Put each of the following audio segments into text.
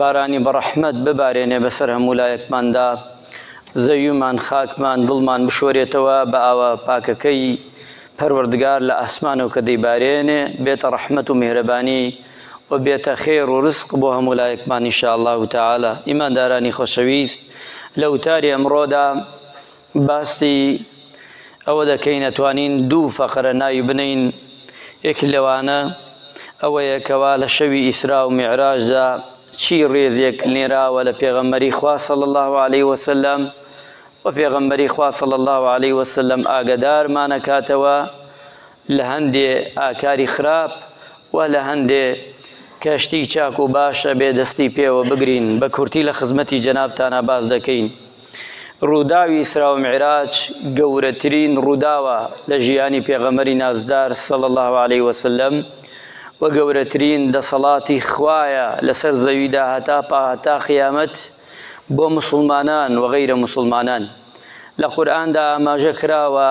بارانی بەڕەحمەت ببارێنێ بەسەر هەموو لایەکماندا، زەویمان، خاکمان، دڵمان بشۆرێتەوە بە ئاوە پاکەکەی پەروەردگار لە ئاسمانەوە کە دەیبارێنێ، بێتە ڕەحمەت و میهرەبانی و بێتە خێر و ڕزق بۆ هەموو لایەکمان ان شاء اللە تعالی. ئیماندارانی خۆشەویست لە وتاری ئەمڕۆدا، باسی ئەوە دەکەین ئەتوانین دوو فەقرە ناوی بنێین یەک لەوانە ئەوەیە کەوا لە شەوی ئیسرا و میعراجدا چی ڕێزێک نێراوە لە پێغەمبەری خوا صلی الله علیه وسلم و پێغەمبەری خوا صلی الله علیه وسلم ئاگەدارمانەکاتەوە لە هەندێ ئاکاری خراپ و لە هەندێ کە شتی چاک و باش ئەبێ دەستی پێوە بگرین، بە کورتی لە خزمەتی جەنابتانا باس دەکەین. ڕووداوی ئیسرا و میعراج گەورەترین ڕووداوە لە ژیانی پێغەمبەری نازدار صلی اللە علیە وسلم و گەورەترین دەسەڵاتی خوایە لەسەر زەویدا هەتا هەتا قیامەت بۆ موسڵمانان و غەیرە موسڵمانان. لە قورئاندا ئاماژە کراوە،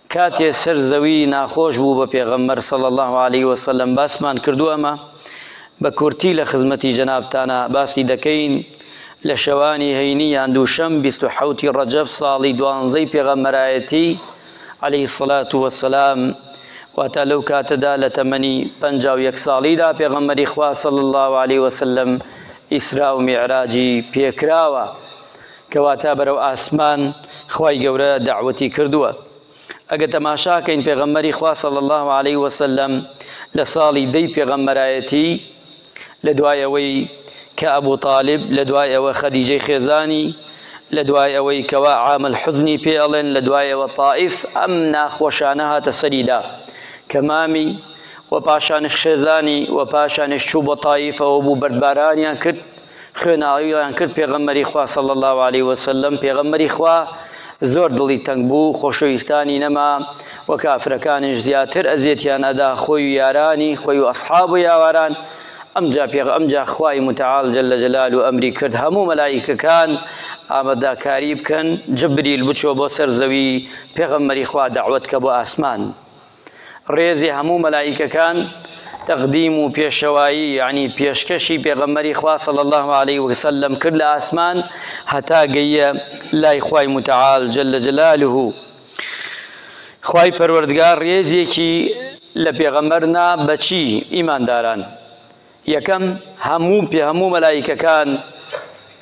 کاتێ سەر زەوی ناخۆش بوو بە پێغەمبەر صلی اللە علیە وسلم باسمان کردووە ئەمە بە کورتی لە خزمەتی جەنابتانا باسی دەکەین لە شەوانی هەینی یان دووشەم 27 ڕەجەب ساڵی دوانزەی پێغەمبەرایەتی علی الصلاة والسلام واتا لەو کاتەدا لە تەمەنی 51 ساڵیدا پێغەمبەری خوا صلی الله علیه وسلم ئیسرا و میعراجی پێکراوە کەواتە بەرەو ئاسمان خوای گەورە دەعوەتی کردووە ئەگە تەماشاکەین پێغەمبەری خوا صلی الله علیه وسلم لە ساڵی دەی پێغەمبەرایەتی لە دوای ئەوەی کە ئەبوو طالب لە دوای ئەوە خەدیجەی خێزانی لە دوای ئەوەی کەوا عامل حزنی پێ ئەڵێن لە دوایەوە تائیف ئەم ناخۆشانە هاتە سەریدا کە مامی و پاشانش خێزانی و پاشانش چوو بۆ تائیفەوە بوو بەردبارانیان کرد خوێناویان کرد پێغەمبەری خوا صلی الله علیه و سلم پێغەمبەری خوا زۆر دڵی تەنگ بوو خۆشەویستانی نەما و کافرەکانیش زیاتر ئەزیەتیان ئەدا خۆی و یارانی خۆی و ئەصحاب و یاواران ئەمجا پێغ ئەمجا خوای متعال جل جلال و ئەمری کرد هەموو مەلایکەکان ئامادەکاری بکەن جبریل بچۆ بۆ سەر زەوی پێغەمبەری خوا دعوت کە بۆ ئاسمان ڕێزی هەموو مەلائیکەکان تەقدیم و پێشەوایی یعنی پێشکەشی پێغەمبەری خوا صلی الله علیه و سلم کرد لە ئاسمان هەتا گەیە لای خوای متعال جل جلاله خوای پەروەردگار ڕێزێکی لە پێغەمبەر نا بەچی ئیمانداران یەکەم، هەموو پێ هەموو مەلائیکەکان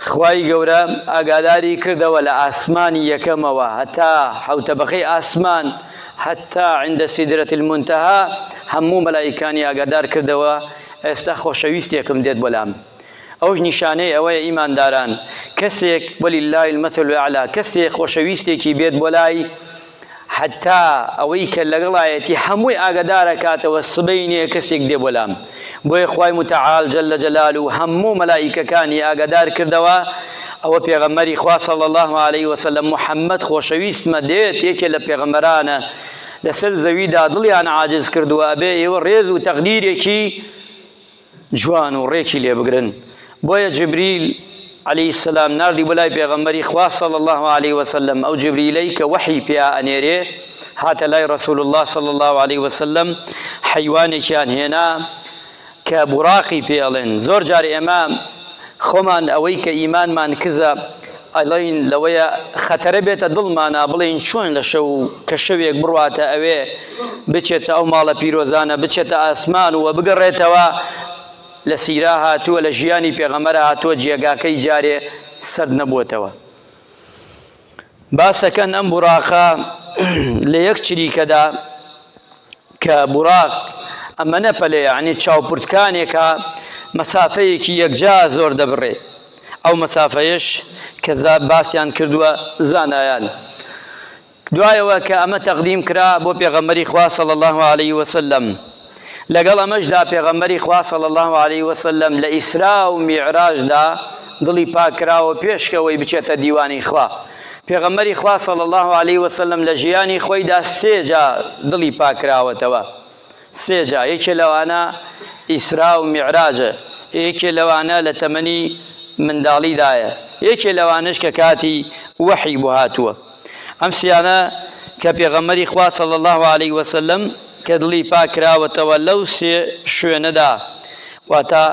خوای گەورە ئاگاداری کردەوە لە ئاسمانی یەکەمەوە هەتا حەوت تەبەقەی ئاسمان حەتا عند سدرەتی المنتهی هەموو مەلائیکانی ئاگادار کردەوە ئێستا خۆشەویستێکم دێت بۆلام ئەوش نیشانەی ئەوەیە ئیمانداران کەسێک وللە المثل الاعلی کەسێک خۆشەویستێکی بێت بۆ لای حەتا ئەوەی کە لەگەڵایەتی هەمووی ئاگەدارەکاتەوە سبەینێ کەسێک دێ بۆ لام بۆیە خوای متعال جل جلاله هەموو مەلائیکەکانی ئاگەدار کردەوە ئەوە پێغەمبەری خوا صلی الله علیه وسلم محمد خۆشەویستمە دێت یەکێ لە پێغەمبەرانە لەسەر زەویدا دڵیان عاجز کردووە ئەبێ ئێوە ڕێز و تەقدیرێکی جوان و ڕێکی لێ بگرن بۆیە جبریل عەلەیهی السلام ناردی بۆ لای پێغەمبەری خوا صلی اللە عەلەیه وسلم ئەو جبریلەی کە وەحی پیا ئەنێرێ هاتە لای رسول اللە صلی اللە عەلەیه وسلم حەیوانێکیان هێنا کە بوراقی پێڵێن زۆر جار ئێمە خۆمان ئەوەی کە ئیمانمان کزە ئەڵێن لەوەیە خەتەرە بێتە دڵمانا بڵێین چۆن لە شەو کە شەوێک بڕواتە ئەوێ بچێتە ئەو ماڵە پیرۆزانە بچێتە ئاسمان و بگەڕێتەوە لە سیرا هاتووە لە ژیانی پێغەمەرە هاتووە جێگاکەی جارێ سرد نەبووتەوە باسەکەن ئەم بوراقە لە یەک چریکەدا کە بوراق ئەمەنە پەلە یەعنی چاو پرتکانێکە مەسافەیەکی یەکجا زۆر دەبڕێ ئەو مەسافەیەش کە باسیان کردووە زانایان دوایەوە کە ئەمە تەقدیم کرا بۆ پێغەمبەری خوا صلی الله علیه وسلم لەگەڵ ئەمەشدا پێغەمبەری خوا صلی الله علیه وسلم لە ئیسرا و میعراجدا دڵی پاکراوە پێشکەوەی بچێتە دیوانی خوا پێغەمبەری خوا صلی اللە علیە وسلم لە ژیانی خۆیدا سێ جا دڵی پاککراوەتەوە سێ جا یەکێ لەوانە ئیسرا و میعراجە یەکێ لەوانە لە تەمەنی منداڵیدایە یەکێ لەوانش کە کاتی وەحی بۆ هاتووە ئەم سیانە کە پێغەمبەری خوا صلی اللە علیه وسلم کە دڵی پاککراوەتەوە لەو سێ شوێنەدا واتە،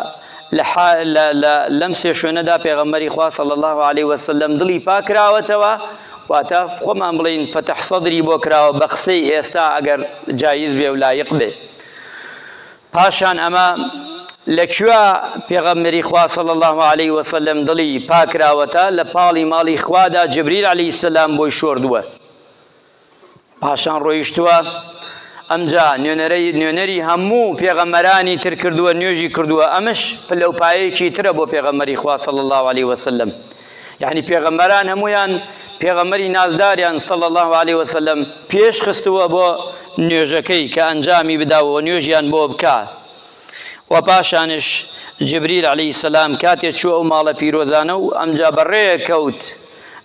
لە حا لە لە لەم سێ شوێنەدا پێغەمبەری خوا صلی اللە علیە وسلم دڵی پاک کراوەتەوە، واتە، خۆمان بڵێین فتح صدری بۆ کراوە بە قسەی ئێستا ئەگەر جایز بێ و لایق بێ. پاشان ئەمە لە کوێ پێغەمبەری خوا صلی اللە علیە وسلم دڵی پاک کراوەتە لە پاڵی ماڵی خوادا جبریل علیە سلام بۆی شۆردووە. پاشان ڕۆیشتووە ئەمجا نوێنەرەی نوێنەری هەموو پێغەمەرانی تر کردووە نوێژی کردووە ئەمش پلە و پایەیەکی ترە بۆ پێغەمەری خوا صلی الله علیه وسلم یعنی پێغەمەران هەمویان پێغەمەری نازداریان صلی الله علیه وسلم پێش خستووە بۆ نوێژەکەی کە ئەنجامی بداوە نوێژیان بۆ بکە و پاشانش جبریل علی سلام کاتێ چوو ئەو ماڵە پیرۆزانە و ئەمجا بەڕێ کەوت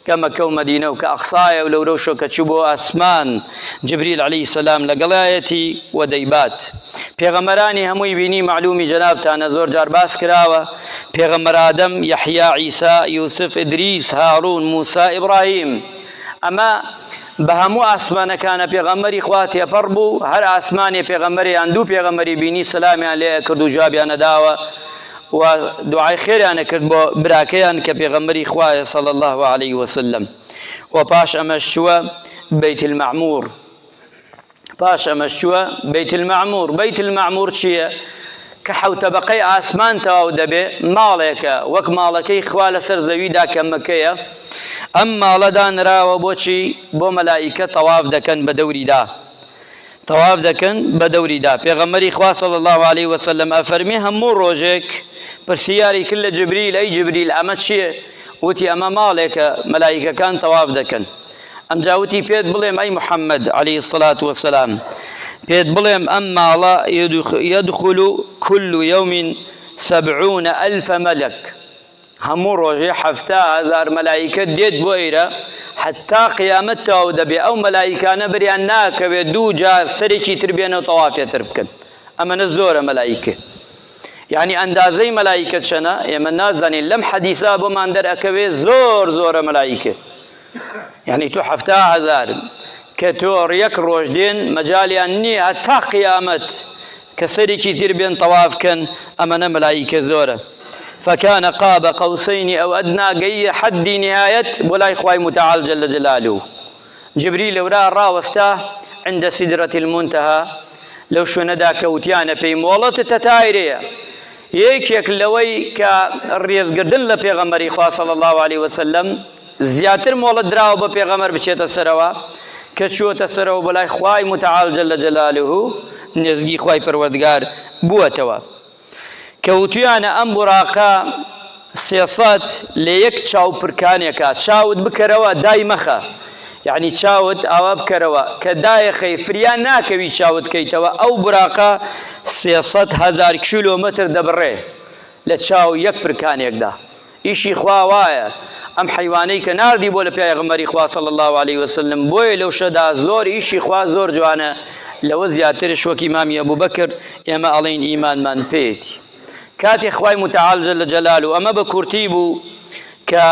کە مەکە و مەدینە و کە ئەقسایە و لەورەو شۆ کە چوو بۆ ئاسمان جبریل علی سلام لەگەڵایەتی و دەیبات پێغەمبەرانی هەمووی بینی معلومی جەنابتانە زۆر جار باس کراوە پێغەمبەر ئادەم یحیا عیسا یوسف ئدریس هارون موسا ئیبراهیم ئەمە بە هەموو ئاسمانەکانە پێغەمەری خوا تێپەڕ بوو هەر ئاسمانێ پێغەمەریان دوو پێغەمەری بینی سلامیان لێ کرد و جوابیانەداوە و دوعای خێریان ئەکرد بۆ براکەیان کە پێغەمبەری خوایە صلی اللە علیە وسلم و پاش ئەمەش چووە بیت المعمور پاش ئەمەش چووە بیت المعمور بیت المعمور چییە کە حوتەبقەی ئاسمان تەواو دەبێ ماڵێکە وەک ماڵەکەی خوا لەسەر زەویدا کە مەکەیە ئەم ماڵەدا نراوە بۆچی بۆ مەلایکە تەواف دەکەن بە دەوریدا تەواف دەکەن بەدەوریدا پێغەمبەری خوا صلی اللە علیە وسلم ئەفەرمێ هەموو ڕۆژێک پرسیاری کرد لە جبریل ئەی جبریل ئەمە چییە وتی ئەمە ماڵێکە مەلایکەکان تەواف دەکەن ئەمجا وتی پێت بڵێم ئەی محەممەد علی الصلاة والسلام پێت بڵێم ئەم ماڵە یدخل كل يوم سبعون ألف ملك هەموو ڕۆژێ حەفتا هەزار مەلائیکە دێت بۆ ئێرە حەتا قیامەت تەواو دەبێ ئەو مەلائیکانە بریان ناکەوێت دوو جار سەرێکی تر بێنە و تەوافێ تر بکەن ئەمەە زۆرە مەلایکە یعنی ئەندازەی مەلایکە چەنە ئێمە نازانین لەم حەدیسا بۆمان دەرەکەوێ زۆر زۆرە مەلایکە یانی تۆ حەفتا هەزار کە تۆ یەک ڕۆژ دێن مەجالیان نییە هەتا قیامەت کە سەرێکی تر بێن تەواف کەن ئەمەە مەلایکە زۆرە فكان قاب قوسين او ادنى گەیە حەدی نهایەت بۆ لای خوای متعال جل جلاله جبری لەورا ڕاوەستا عند سدرة المنتهى لەو شوێنەدا کەوتیانە پێی مۆڵەت تەتایرەیە یەکێک لەوەی کە ڕێزگردن لە پێغەمەری خوا صلی الله عليه وسلم زیاتر مۆڵەت دراوە بە پێغەمبەر بچێتە سەرەوە کە چووەتە سەرەوە بە لای خوای متعال جل جلاله نێزگی خوای پەروەردگار بووەتەوە کە وتویانە ئەم بوراقە سێسەت لە یەک چاو پرکانێکە چاوت بکەرەوە دای مەخە یعنی چاوت ئاوا بکەرەوە کە دایەخەی فریان ناکەوی چاوت کەیتەوە ئەو براقە سێسەد هزار کیلۆمەتر دەبڕێ لە چاو یەک پرکانێکدا ئیشی خوا وایە ئەم حەیوانەی کە ناردی بۆ لە پیاێغمبەری خوا صلی اللە علیە وسلم بۆیە لەو شەدا زۆر ئیشی خوا زۆر جوانە لەوە زیاترش وەکی مامی ئەبوو بەکر ئێمە ئەڵین ئیمانمان پێێتی کاتی خوای متعالجە لە جەلال و ئەمە بە کورتی بوو کە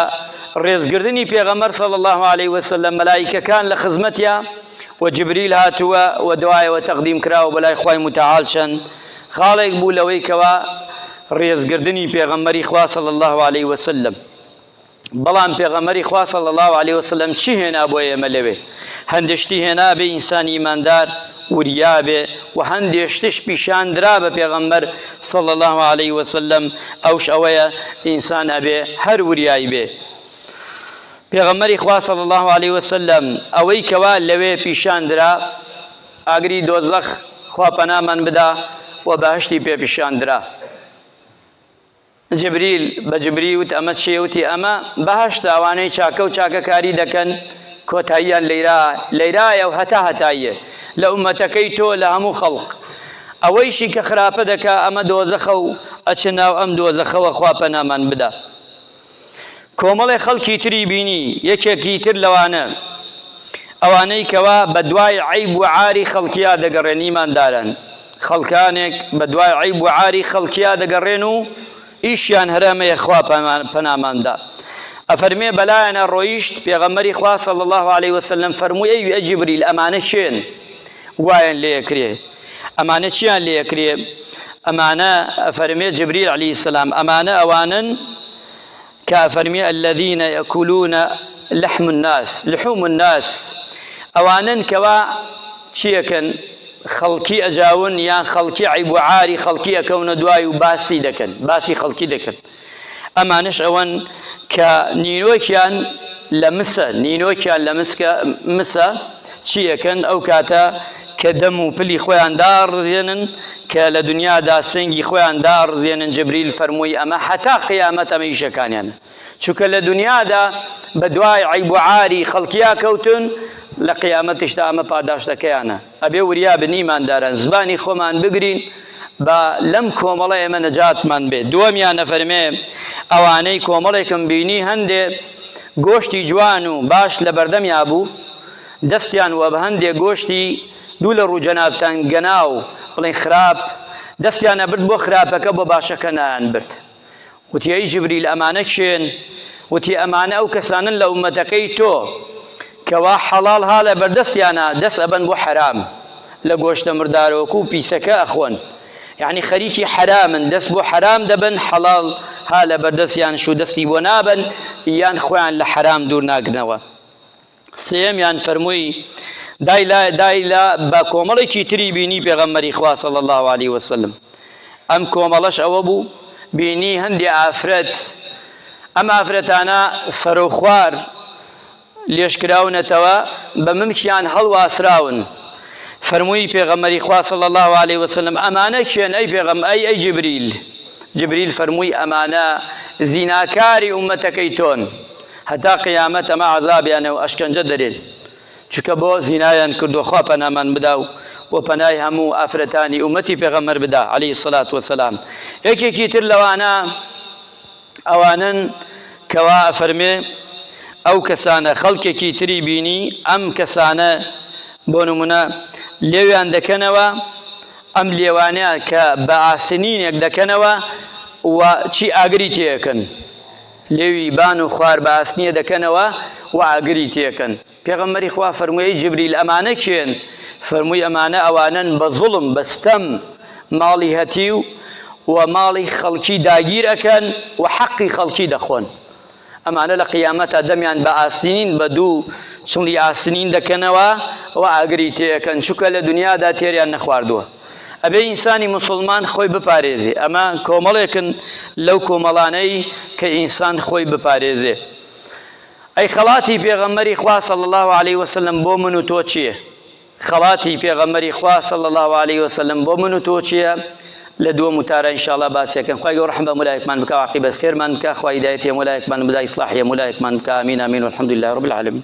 ڕێزگردنی پێغەمەر صلی الله عليه وسلم مەلایکەکان لە خزمەتیا و جبریل هاتووە و دوایەوە تەقدیم کراوە بەلای خوای متعال چەند خاڵێک بوو لەوەی کەوا ڕێزگردنی پێغەمبەری خوا صلی الله علیه وسلم بەڵام پێغەمەری خوا صلی الله عليه وسلم چی هێنا بۆ ئێمە لەوێ هەندشتی هێنا بێ ئینسان ئیماندار وریا بێ و هەندێشتش پیشاندرا بە پێغەمبەر صلی الله عليه وسلم ئەوش ئەوەیە ئینسان ئەبێ هەر وریایی بێ پێغەمەری خوا صلی الله عليه وسلم ئەوەی کەوا لەوێ پیشاندرا ئاگری دۆزەخ خوا پەنامان بدا و بەهەشتی پێ پیشان درا جبریل بە جبری وت ئەمە چیە وتی ئەمە بەهەشت ئەوانەی چاکە و چاکەکاری دەکەن کۆتاییان لەیرا لەیرایە و هەتا هەتاییە لە ئومەتەکەی تۆ لە هەموو خەڵق ئەوەیشی کە خراپە دەکا ئەمە دۆزەخە و ئەچ ناو ئەم دۆزەخەوە خوا پەنامان بدا کۆمەڵێ خەڵکی تری بینی، یەکێکی تر لەوانە ئەوانەی کەوا بەدوای عەیب و عاری خەڵکیا دەگەڕێن ئیماندارن، خەڵکانێک بەدوای عەیب و عاری خەڵکیا دەگەڕێن و ئیشیان هەر ئەمەیە خوا پەنامان دا ئەفەرمێ بەلایان ئەڕۆیشت پێغەمبەری خوا صلی اللە علیە وسلم فەرمووی ئەی جبریل ئەمانە کێن؟ وایان لێ ئەکرێ ئەمانە چیان لێ ئەکرێ ئەمانە ئەفەرمێ جبریل علی سلام ئەمانە ئەوانەن کە ئەفەرمی الذین یکولون لحم الناس لحوم الناس ئەوانن کەوا چیەکەن خەڵکی ئەجاون یان خەڵکی عیب و عاری خەڵکی ئەکەونە دوای و باسی دەکەن باسی خەڵکی دەکەن ئەمانەش ئەوەن کە نینۆکیان لە مسە نینۆکیان لە مسکە مسە چیەکەن ئەو کاتە کە دەم و پلی خۆیان داڕزێنن کە لە دنیادا سنگی خۆیان داڕزێنن جبریل فەرمووی ئەمە حتا قیامەت ئەمە ئیشەکانیانە چونکە لە دنیادا بە دوای عیب و عاری خەڵکیا کەوتن لە قیامەتشتا ئەمە پاداشتەکەیانە ئەبێ وریا بن ئیمانداران زبانی خۆمان بگرین با لەم کۆمەڵە ئێمە نەجاتمان بێ دووەمیان ئەفەرمێ ئەوانەی کۆمەڵێکم بینی هەندێ گۆشتی جوان و باش لە بەردەمیا بوو دەستیان وە بە هەندێ گۆشتی دوو لە ڕوو جەنابتان گەناو بڵێن خراپ دەستیان ئەبرد بۆ خراپەکە بۆ باشەکە نایان برد وتی، ئەی جبریل ئەمانە کێن؟ وتی، ئەمانە ئەو کەسانەن لە ئوممەتەکەی تۆ کەوا حەڵاڵ ها لە بەردەستیانا دەست ئەبەن بۆ حەرام، لە گۆشتە مردارۆک و پیسەکە ئەخۆن، یەعنی خەریکی حەرامن، دەست بۆ حەرام دەبەن، حەڵاڵ ها لە بەردەستیانش و دەستی بۆ نابەن، یان خۆیان لە حەرام دوور ناگرنەوە. سێیەمیان فەرمووی، دای لا دای لا بە کۆمەڵێکی تری بینی پێغەمبەری خوا صلی اللە علیە وسلم ئەم کۆمەڵەش ئەوە بوو بینی هەندێ ئافرەت ئەم ئافرەتانە سەرۆخوار لێشکراونەتەوە بە ممکیان هەڵواسراون فەرمووی پێغەمەری خوا صلی الله عليه وسلم ئەمانە کێن ئەی پێغەم ئەی ئەی جبریل جبریل فەرمووی ئەمانە زیناکاری ئومەتەکەی تۆن هەتا قیامەت ئەمە عەزابیانە و ئەشکەنجە دەرێن چونکە بۆ زینایان کردوە خوا پەنامان بدا و و پەنای هەموو ئافرەتانی ئومەتی پێغەمبەر بدا علی الصلوة والسلام یەکێکی تر لەوانە ئەوانن کەوا ئەفەرمێ ئەو کەسانە خەڵکێکی تری بینی ئەم کەسانە بۆ نمونە لێویان دەکەنەوە ئەم لێوانەیە کە بە ئاسنینێک دەکەنەوە و چی ئاگری تێەکەن لێوی بان و خوار بە ئاسنیە دەکەنەوە و ئاگری تێکەن. پێغەمبەری خوا فەرمووی، ئەی جبریل ئەمانە کێن؟ فەرمووی، ئەمانە ئەوانەن بە زوڵم، بە ستەم، ماڵی هەتیو و ماڵی خەڵکی داگیر ئەکەن و حەقی خەڵکی دەخۆن. ئەمانە لە قیامەتا دەمیان بە ئاسنین، بە دوو چڵی ئاسنین دەکەنەوە و ئاگری تێ ئەکەن، چونکە لە دنیادا تێریان نەخواردووە. ئەبێ ئینسانی موسڵمان خۆی بپارێزێ، ئەمە کۆمەڵێکن لەو کۆمەڵانەی کە ئینسان خۆی بپارێزێ. ئەی خەڵاتی پێغەمبەری خوا صلی اللە علیه وسلم بۆ من و تۆ چییە؟ خەڵاتی پێغەمبەری خوا صلی اللە علیه وسلم بۆ من و تۆ چییە؟ لە دووەم وتارە انشاءاللە باسیەکەن خوای گەورە رحم بە مولایەکمان بکا و عاقبەت خێرمان بکا خوای هیدایەتی هەموو لایەکمان بدا ئیسلاحی هەموو لایەکمان بکا امین امین والحمدللە رب العالمین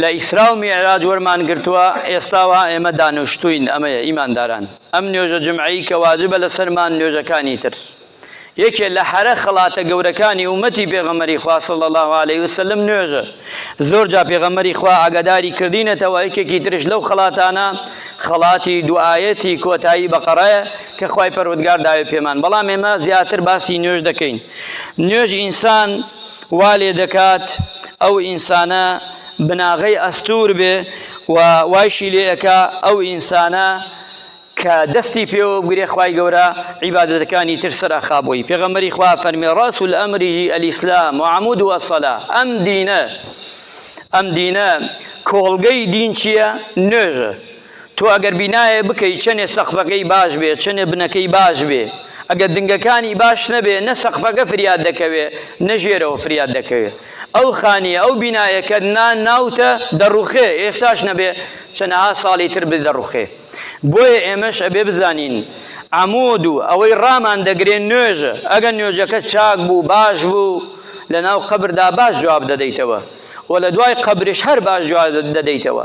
لە ئیسرا و میعراج وەرمان گرتووە، ئێستا و ها ئێمە دانوشتووین، ئەمەیە، ئیمانداران، ئەم نوێژە جمعەی کە واجبە لەسەرمان نوێژەکانی تر یەکێ لە حەرە خەڵاتە گەورەکانی ئومەتی پێغەمبەری خوا صلی اللە علیە وسلم نوێژە زۆر جا پێغەمبەری خوا ئاگاداری کردینەتەوە یەکێکی ترش لەو خەڵاتانە خەڵاتی دوعایەتی کۆتایی بەقەڕایە کە خوای پەروەردگار داوێ پێمان بەڵام ئێمە زیاتر باسی نوێژ دەکەین نوێژ ئینسان وا لێ دەکات ئەو ئینسانە بناغەی ئەستوور بێ و وایشی لێ ئەکا ئەو ئینسانە کە دەستی پێوە بگرێ خوای گەورە عیبادەتەکانی تر سەر ئەخا بۆی پێغەمبەری خوا فەرمی ڕاس الامری الاسلام و عمود و الصلا ئەم دینە ئەم دینە کۆڵگەی دین چییە نوێژە تۆ ئەگەر بینایێ بکەی چەنێ سەقفەکەی باش بێ چەنێ بنەکەی باش بێ ئەگەر دنگەکانی باش نەبێ نە سەقفەکە فریات دەکەوێ نە ژێرەوە فریات دەکەوێ ئەو خانیە ئەو بینایەکە نا ناوتە دەڕوخێ ئێستاش نەبێ چەنەها ساڵی تر بێ دەڕوخێ بۆیە ئێمەش ئەبێ بزانین عەمود و ئەوەی ڕامان دەگرێ نوێژە ئەگەر نوێژەکە چاک بوو باش بوو لەناو قەبردا باش جواب دەدەیتەوە و لەدوای قەبریش هەر باش جواب دەدەیتەوە.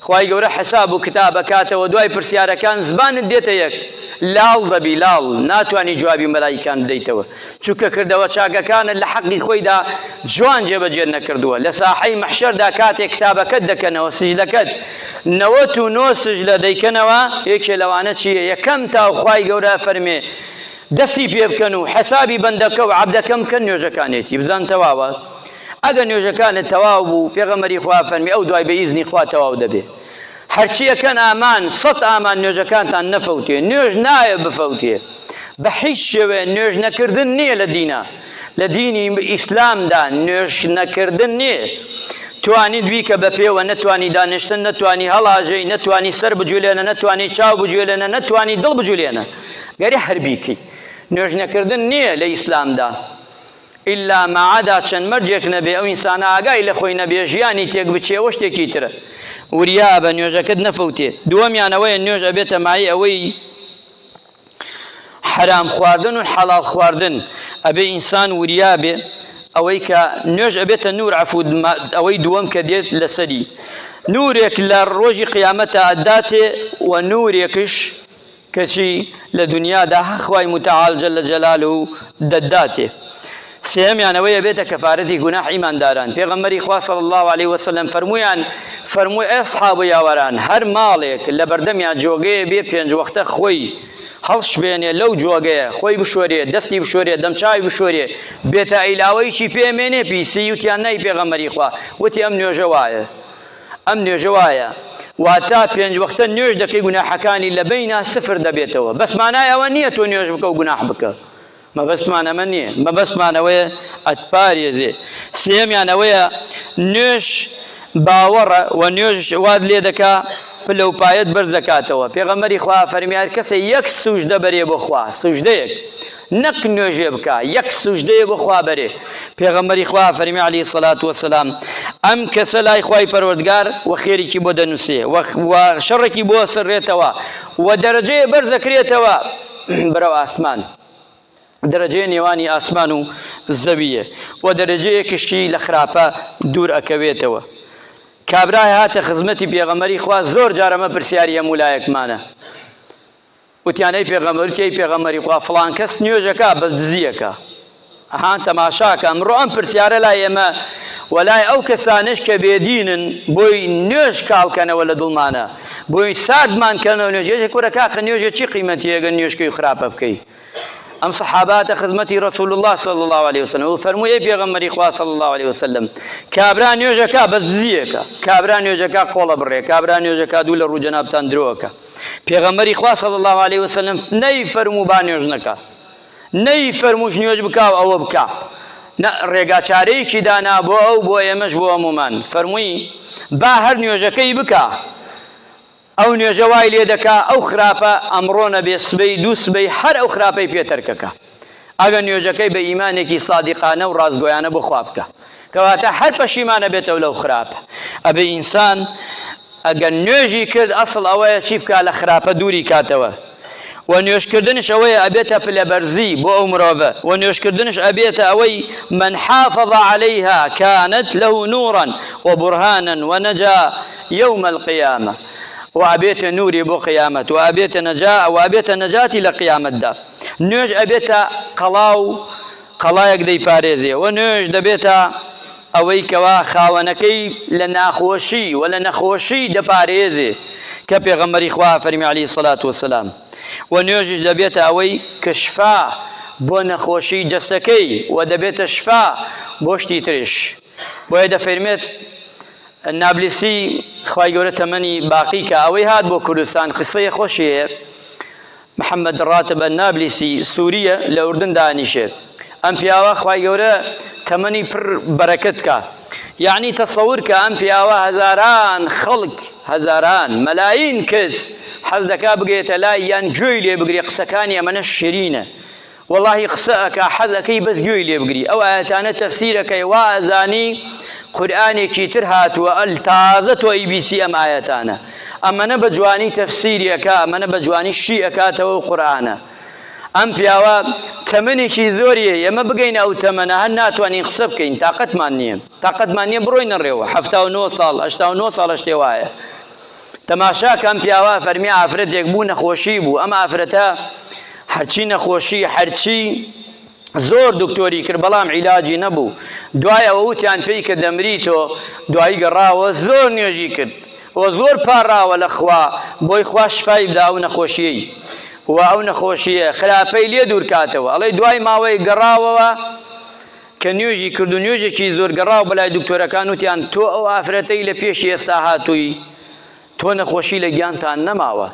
خوای گەورە حساب و کتاب ئەکاتەوە دوای پرسیارەکان زبانت دێتە یەک لاڵ دەبی لاڵ ناتوانی جوابی مەلایکان بدەیتەوە چونکە کردەوە چاکەکانت لە حەقی خۆیدا جوان جێبەجێت نەکردووە لە ساحەی مەحشەردا کاتێک کتابەکەت دەکەنەوە سجدەکەت نەوەت و نۆ سجدە دەیکەنەوە یەکێ لەوانە چییە یەکەم تاو خوای گەورە فەرمێ دەستی پێ بکەن و حسابی بەندەکە و عەبدەکەم بکەن نوێژەکانێتی بزان تەواوە ئەگەر نوێژەکانت تەواو بوو، پێغەمبەری خوا فەرمی، ئەو دوای بە ئیزنی خوا تەواو دەبێ. هەرچی ئەکەن ئامان، سەد ئامان نوێژەکانتان نەفەوتێ، نوێژ نایە بفەوتێ. بە هیچ شێوەیە نوێژ نەکردن نییە لە دینا. لە دینی ئیسلامدا نوێژ نەکردن نییە. توانیت بیکە بە پێوە، نەتوانی دانیشتن، نەتوانی هەڵاژێی، نەتوانی سەر بجولێنە، نەتوانی چاو بجولێنە، نەتوانی دڵ بجولێنە. گەرێ هەر بیکەی. نوێژ نەکردن نییە لە ئیسلامدا. ئیلا مەعەدا چەند مەرجێک نەبێ ئەو ئینسانە ئاگای لە خۆی نەبێ ژیانی تێک بچێ ئەوە شتێکی ترە وریابە نوێژەکەت نەفەوتێ دووەمیان ئەوەیە نوێژ ئەبێتە مایەی ئەوەی حەرام خواردن و حەڵاڵ خواردن ئەبێ ئینسان وریابێ ئەوەی کە نوێژ ئەبێتە نور عفود ئەوەی دووەم کە دێت لەسەری نورێک لە ڕۆژی قیامەتە ئەداتێ و نورێکش کەچی لە دونیادا هەق خوای موتەعال جل جلالە دەتداتێ. سێیەمیان ئەوەی ئەبێتە کەفارەتی گوناح ئیمانداران، پێغەمبەری خوا صلی اللە علیە وسلم فەرموویان، فەرمووی ئەی ئەصحاب و یاوەران هەر ماڵێک لە بەردەمیان جۆگەیە بێ پێنج وەختە خۆی هەڵشبێنێ لەو جۆگەیە، خۆی بشۆرێ، دەستی بشۆرێ، دەمچاوی بشۆرێ، بێتە ئیلاوەیی چی پێ ئەمێنێ؟ پیسی وتیان نای پێغەمبەری خوا، وتی ئەم نوێژە وایە. ئەم نوێژە وایە واتا پێنج وەختە نوێژ دەکەی گوناحەکانی لە بەینا سفر دەبێتەوە بەس مانای ئەوە نییە تۆ نوێژ بکە و گوناح بکە مەبەستمان ئەمە نییە مەبەستمان ئەوەیە ئەتپارێزێ سێمیان ئەوەیە نوێژ باوەڕە و نوێژ واد لێ دەکا پلە و پایەت بەرز دەکاتەوە پێغەمەری خوا فەرمیار کەسە یەک سوژدە بەرێ بۆ خوا سوژدەیەک نەک نوێژێ بکا یەک سوژدەیە بۆ خوا بەرێ پێغەمبەری خوا فەرمی علی سەلات وسلام ئەم کەسە لای خوای پەروەردگار و خێریکی بۆ دەنووسێ و شەڕێکی بۆ سڕێتەوە و دەرەجەیە بەرز دەکرێتەوە بەرەو ئاسمان دەرەجەیە نێوانی ئاسمان و زەویە و دەرەجەیە کشتی لە خراپە دوور ئەکەوێتەوە کابرای هاتە خزمەتی پێغەمەری خوا زۆر جارەمە پرسیاری هەموو لایەکمانە وتیان ئەی پێغەمبەر وتی ئەی پێغەمبەری خوا فڵان کەس نوێژەکە بەس دزیەکە ئەها تەماشاکە ئەمڕۆ ئەم پرسیارە لای ئێمە وەلای ئەو کەسانش کە بێدینن بۆی نوێژ کاڵکەنەوە لە دڵمانە بۆی سادمان کەنەوە نوێژێژە کورە کاخە نوێژە چی قیمەتیەگە نوێشکەی خراپە بکەی ئەم سەحاباتە خزمەتی ڕسول الله صلی الله عليه وسلم و فەرمووی پێغەمەری خوا صلی الله عليه وسلم کابرا نوێژەکە بەس دزیەکە کابرا نوێژەکە قۆڵە بڕێ کابرا نوێژەکە دوو لە ڕوو جەنابتان درۆکە پێغەمبەری خوا صلی اللە علیە وسلم نەیفەرموو با نوێژ نەکا نەیفەرمووش نوێژ بکا و ئەوە بکا نە ڕێگا چارەیەکی دانا بۆ ئەو بۆ ئێمەش بۆ هەمومان فەرمووی با هەر نوێژەکەی بکا ئەو نوێژە وای لێ دەکا ئەو خراپە ئەمڕۆ نەبێ سبەی دوو سبەی هەر ئەو خراپەی پێ تەرکەکە ئەگە نوێژەکەی بە ئیمانێکی سادیقانە و ڕاستگۆیانە بۆ خوا بکا کەواتە هەر پەشیمان ئەبێتەوە لەو خراپە ئەبێ ئینسان ئەگەر نوێژی کرد ئەسڵ ئەوەیە چی بکا لە خراپە دووری کاتەوە و نوێشکردنش ئەوەیە ئەبێتە پلەبەرزی بۆ ئەو مرۆڤە و نوێشکردنش ئەبێتە ئەوەی من حافظ عليها كانت له نورا وبرهانا ونجا يوم القيامة و ئەبێتە نوری بۆ قیامەت و ئەبێتە نەجا و ئەبێتە نەجاتی لە قیامەتدا نوێژ ئەبێتە قەڵا و قەڵایەک دەیپارێزێ و نوێژ دەبێتە ئەوەی کەوا خاوەنەکەی لە ناخۆشی و لە نەخۆشی دەپارێزێ کە پێغەمبەری خوا ئەفەرمی عەلەیهی الصلوة والسلام و نوێژیش دەبێتە ئەوەی کە شفا بۆ نەخۆشی جەستەکەی و دەبێتە شفا بۆ شتی تریش بۆیە دەفەرمێت نابلسی خوای گەورە تەمەنی باقی کە ئەوەی هات بۆ کوردستان قسەیە خۆشی هەیە محمد راتب النابلسی سوریە لە ئوردن دانیشێ ئەم پیاوە خوای گەورە تەمەنی پر بەرەکەت کا یعنی تەسەور کە ئەم پیاوە هەزاران خەڵک هەزاران مەلاین کەس حەز دەکا بگێتە لای یان گوێی لێ بگرێ قسەکانی ئەمەنە شیرینە وەڵاهی قسە ئەکا حەز ئەکەی بەس گوێی لێ بگری ئەو ئایەتانە تەفسیر ئەکەی وا ئەزانی قورئانێکی تر هاتووە ئەل تازە تۆ ئی بیسی ئەم ئایەتانە ئەمەنە بە جوانی تەفسیری ئەکا ئەمەنە بە جوانی شی ئەکاتەوە و قورئانە ئەم پیاوە تەمەنێکی زۆریە ئێمە بگەینە ئەو تەمەنە هەر ناتوانین قسە بکەین تاقەتمان نییە تاقەتمان نییە بڕۆینە ڕێوە حەفتا و نۆ ساڵ هەشتا و نۆ ساڵ شتێ وایە تەماشاکە ئەم پیاوە فەرمی ئافرەتێک بوو نەخۆشی بوو ئەم ئافرەتە هەرچی نەخۆشی هەرچی زۆر دکتۆری کرد بەڵام عیلاجی نەبوو دوایەوە وتیان پێی کە دەمری تۆ دوایی گەڕاوە زۆر نوێژی کرد و زۆر پاڕاوە لە خوا بۆی خوا شفای بدا ئەو نەخۆشیی و ئەو نەخۆشیە خراپەی لێ دوورکاتەوە ئەڵێ دوای ماوەی گەڕاوەوە کە نوێژی کرد و نوێژێکی زۆر گەڕاو بەلای دکتۆرەکان وتیان تۆ ئەو ئافرەتەی لە پێشی ئێستا هاتووی تۆ نەخۆشی لە گیانتان نەماوە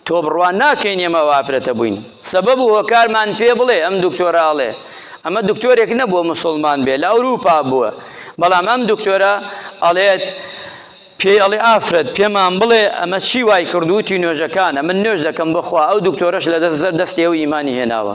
تۆ بڕوا ناکەین ئێمە ئەو ئافرەتە بووین سەبەب و هۆکارمان پێ بڵێ ئەم دکتۆرە ئەڵێ ئەمە دکتۆرێک نەبووە مسوڵمان بێ لە ئەوروپا بووە بەڵام ئەم دکتۆرە ئەڵێت پێی ئەڵێ ئافرەت پێمان بڵێ ئەمە چی وای کردووتی نوێژەکانە من نوێژ دەکەم بخوا ئەو دکتۆرەش لە دەست زەر دەستی ئەو ئیمانی هێناوە